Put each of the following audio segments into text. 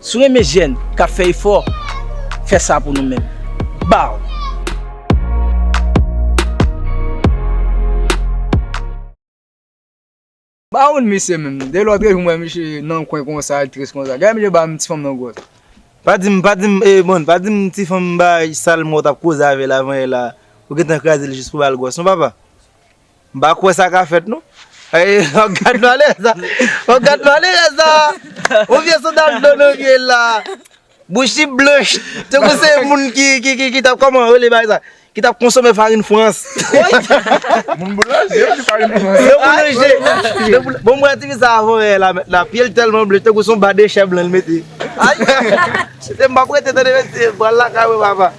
Si w renmen jèn k ap fè efò, fè sa pou nou menm. Baww! M pa konn misye menm. Depi lòt jou m wè misye nan kwen konsa, li tris konsa. Gade misye ba m ti fanm nan gwòs. Pa di m, pa di m, ee bon, pa di m ti fanm m bay sal m wè w t ap koze avè l avan yè la, ou gentan kraze l jis pou w ba l gwòs non papa. M pa kwè sa ka fèt non. An gad malèz a. An gad malèz a. On vye soudal do nou vye la. Bouch li blanch. Tankou se moun ki tap kòman rele bagay sa. Ki tap konsome farin frans. Moun boulanje yo di farin frans. Yo boulanje. Bon m wè tifi sa avan rèyèl la mèt la. Pye l tèlman blanch tankou son ba dechè blan l mete. Ayy. Chita m pa prete tande mesye. Pral lakay mwen papa.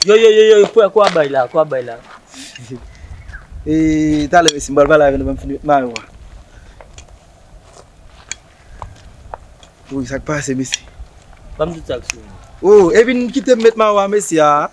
Yo yo yo yo frè kwa bay la kwa bay la Eee talè mesi m pral pale avè nou banm fini met mayo a Wouyy sak pase mesi Banm tout sak sou ou Ooh e vin kitem met mayo a mesi aa.